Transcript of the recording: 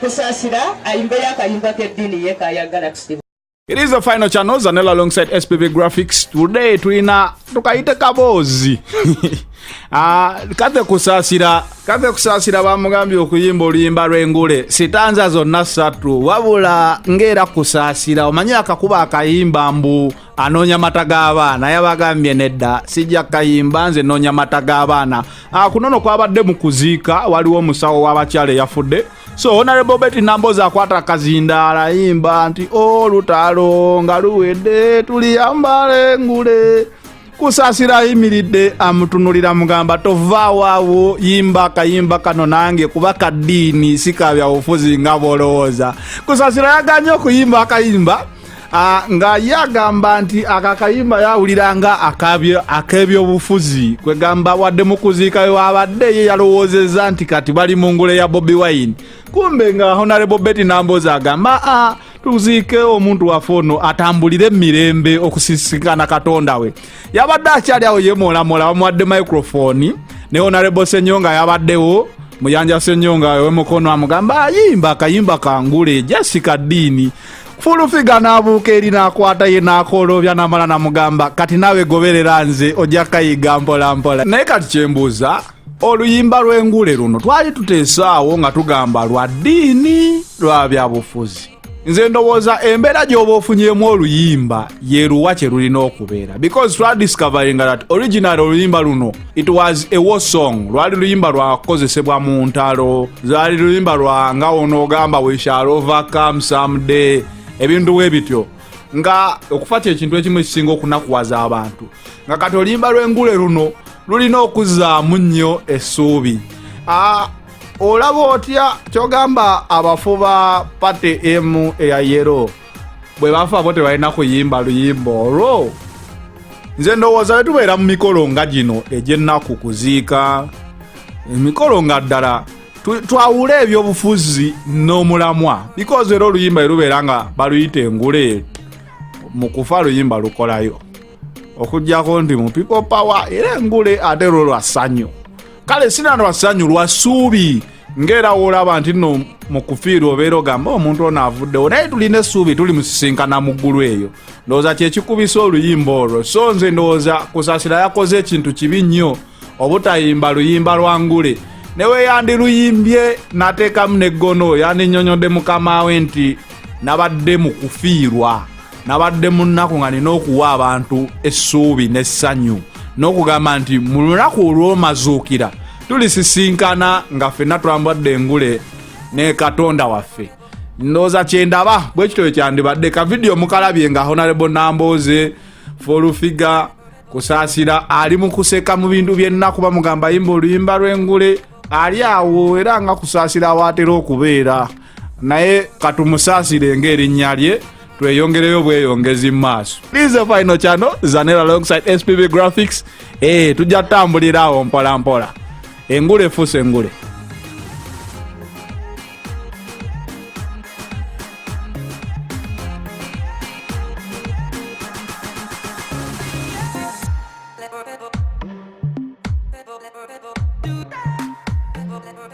Kusasira ayimbeyo akayimba k'eddiini ye kayagala tusiba. It is the final channel Zanella alongside SPV Graphics. Today tulina tukayite kaboozi. Ah, kate kusasira, kate kusasira bamugambye okuyimba oluyimba lw'engule. Sitanza zonna ssatu wabula ng'era kusasira omanyi akakuba akayimba mbu anoonya mata g'abaana yabagambye nedda sijja kayimba nze noonya mata g'abaana ah, kunono kwabadde mu kuziika waliwo omusawo w'abakyala eyafudde so honarebo beti nambozi akwata akazindaala ayimba nti olutalo oh, nga luwedde tuliyambale ngule kusasira ayimiridde amutunulira mugamba tovaawawo yimba akayimba kano nange kuba kaddiini sikabyabufuzi nga bwolowooza kusasira yaganye okuyimba akayimba ah, nga ye agamba nti ako akayimba yawulira nga ak'ebyobufuzi kwegamba wadde mu kuziika wabadde ye yalowoozezza nti kati bali mu ngule ya bobi wine kumbe nga honarebo beti nambozi agamba ah, tuziike omuntu waffe ono atambulire emirembe okusisikana katonda we yabadde akyali awo yemolamola bamuwadde microfoni ne honarebo senyo nga yabaddewo muyanja senyonga wemukono amugamba ayimba akayimba kangule jasi kaddiini fulufiga n'abuuka eri n'akwata ye n'akooloobya n'amala namugamba kati naawe goberera nze ojja kayiga mpolampola naye kati kyembuuza oluyimba lw'engule luno twali tuteesaawo nga tugamba lwa ddiini lwa byabufuzi nze ndowooza embeera gy'oba ofunyemu oluyimba yeruwa kye lulina okubeera because twadiscoveringa that original oluyimba luno It was a war song lwali luyimba lwakukozesebwa mu ntalo lwali luyimba lwa nga onoogamba we shall overcome someday ebintu we bityo nga okufa kyekintu ekimu ekisinga okunakuwaza abantu nga kati oluyimba lw'engule luno lulina okuzzaamu nnyo essuubi ah, olaba otya kyogamba abafu ba pate emu eya yero bwe bafa bo tebalina kuyimba luyimba olwo nze ndowooza bwe tubeera mu mikolo nga gino egy'ennaku kuziika emikolo nga ddala twawule ebyobufuzi n'omulamwa bikozi era oluyimba erubeera nga baluyita engule mu kufa luyimba lukolayo okujjako nti mu people power era engule ate lwo lwa ssanyu kale sinano lwa ssanyu lwa ssuubi ng'era woolaba nti nno mu kufiirwa obeera ogamba omuntu ono avuddewo naye tulina essuubi tuli musisinkana mu ggulu eyo ndowooza kyekikubisa oluyimba olwo so nze ndowooza kusasira yakoze ekintu kibi nnyo obutayimba luyimba lwa ngule newe yandiluyimbye nateekamu neggono yandinyonyodde mukama we nti nabadde mu kufiirwa nabadde mu nnaku nga nina okuwa abantu essuubi n'essanyu n'okugamba nti mu lunaku olw'omazuukira tulisisinkana nga fenna twambadde engule ne katonda waffe ndooza kyendaba bwe kityo bwe kyandibadde ka vidiyo mukalabye nga honarebo nambooze folufiga kusaasira ali mu kuseka mu bintu byenna kuba mugamba yimba oluyimba lw'engule ali awo era nga kusaasira awaatera okubeera naye katumusasire ng'erinnya lye tweyongereyo bweyongezi maaso this the final channel zanera alongside spb graphics eh tujja tambulira awo mpola mpola engule efuse engule Never, never.